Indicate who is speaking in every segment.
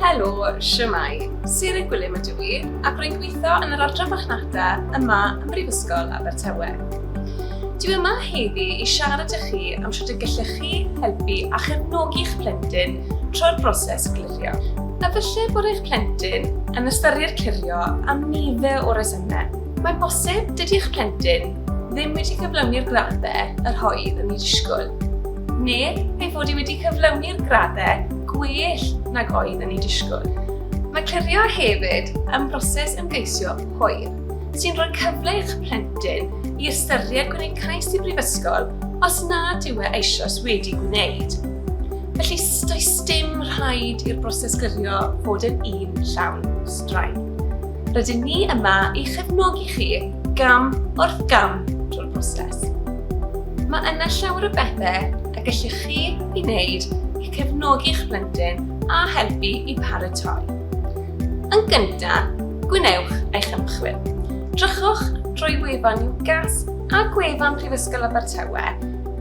Speaker 1: Helo, siwmai. Siri Gwilym ydw i, ac rwy'n gweithio yn yr Adran Marchnata yma ym Mhrifysgol Abertawe. Dwi yma heddi i siarad â chi am sut y gellech chi helpu a chefnogi'ch plentyn trwy'r broses glirio. Efallai bod eich plentyn yn ystyried clirio am nifer o resymau. Mae'n bosib dydy'ch plentyn ddim wedi cyflawni'r graddau yr oedd yn ei ddisgwyl. neu ei fod hi wedi cyflawni'r graddau gwell nag oedd yn ei disgwyl. Mae clirio hefyd yn broses ymgeisio hwyr, sy'n rhoi cyfle i'ch plentyn i ystyried gwneud cais i brifysgol os nad yw e eisoes wedi gwneud. Felly, does dim rhaid i'r broses gyrrio fod yn un llawn straen. Rydyn ni yma i chefnogi chi gam wrth gam drwy'r broses. Mae yna llawer o bethau y gellwch chi i wneud i cefnogi'ch plentyn a helpu i paratoi. Yn gyntaf, gwnewch eich ymchwil. Drychwch drwy wefan UCAS a gwefan Prifysgol Abertawe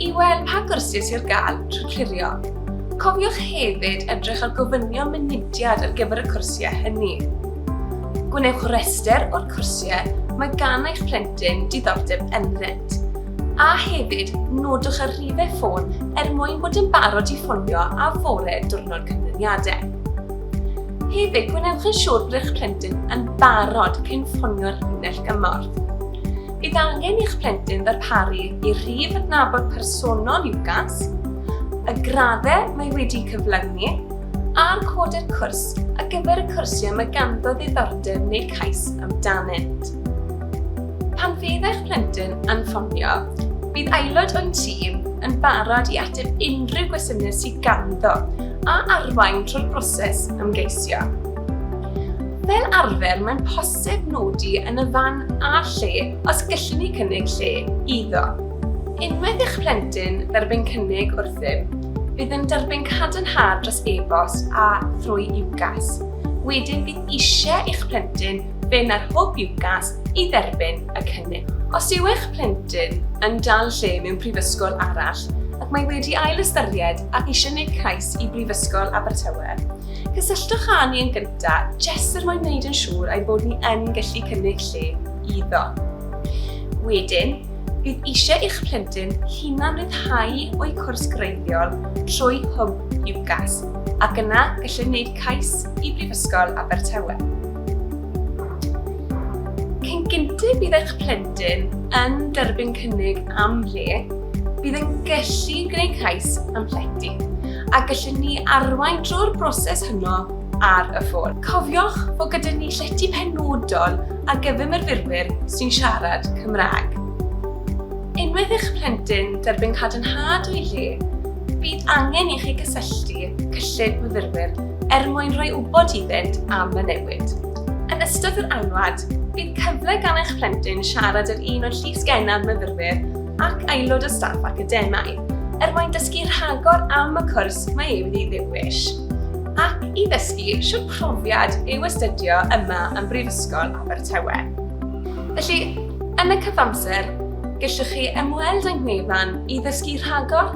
Speaker 1: i weld pa gwrsys sy'n gael trwy clirio. Cofiwch hefyd edrych ar gofynion mynediad ar gyfer y cwrsiau hynny. Gwnewch rester o'r cwrsiau mae gan eich plentyn diddordeb ynddynt. A hefyd, nodwch y rhifau ffôn er mwyn bod yn barod i ffonio a fore diwrnod canlyniadau. Hefyd, gwnewch yn siŵr bod eich plentyn yn barod cyn ffonio'r linell gymorth. Bydd angen i'ch plentyn ddarparu i rhif adnabod personol UCAS, y graddau mae wedi cyflawni a'r coder cwrs ar gyfer y cwrsiau mae ganddo ddiddordeb neu cais amdanynt. Pan fydd eich plentyn yn ffonio, bydd aelod o'n tîm yn barod i ateb unrhyw gwestiynau sydd ganddo a arwain trwy'r broses ymgeisio. Fel arfer, mae'n posib nodi yn y fan a lle os gallwn ni cynnig lle iddo. Unwaith eich plentyn dderbyn cynnig wrthym, bydd yn derbyn cadarnhad dros e-bost a thrwy UCAS. Wedyn bydd eisiau eich plentyn Fe wna'r Hwb UCAS i dderbyn y cynnig. Os yw eich plentyn yn dal lle mewn prifysgol arall ac mae wedi ail-ystyried ac eisiau gwneud cais i Brifysgol Abertawe, cysylltwch â ni yn gyntaf jest er mwyn gwneud yn siŵr ein bod ni yn gallu cynnig lle iddo. Wedyn, bydd eisiau eich plentyn hunan ryddhau o'i cwrs greiddiol trwy Hwb UCAS ac yna gallwn wneud cais i Brifysgol Abertawe. Cyn gynted bydd eich plentyn yn derbyn cynnig am le, bydd yn gallu gwneud cais am llety, a gallwn ni arwain drwy'r broses honno ar y ffôn. Cofiwch fod gyda ni llety penodol ar gyfer myfyrwyr sy'n siarad Cymraeg. Unwaith i'ch plentyn derbyn cadarnhad o'i le, bydd angen i chi gysylltu cyllid myfyrwyr er mwyn rhoi wybod iddynt am y newid. Yn ystod yr anwad, bydd cyfle gan eich plentyn siarad â'r un o'r llif sgennaf myfyrwyr ac aelod o staff academaidd, er mwyn dysgu rhagor am y cwrs mae ei wedi ddewish ac i ddysgu siwr profiad yw astudio yma yn Brifysgol Abertawe. Felly, yn y cyfamser, gellwch chi ymweld â'n ngwefan i ddysgu rhagor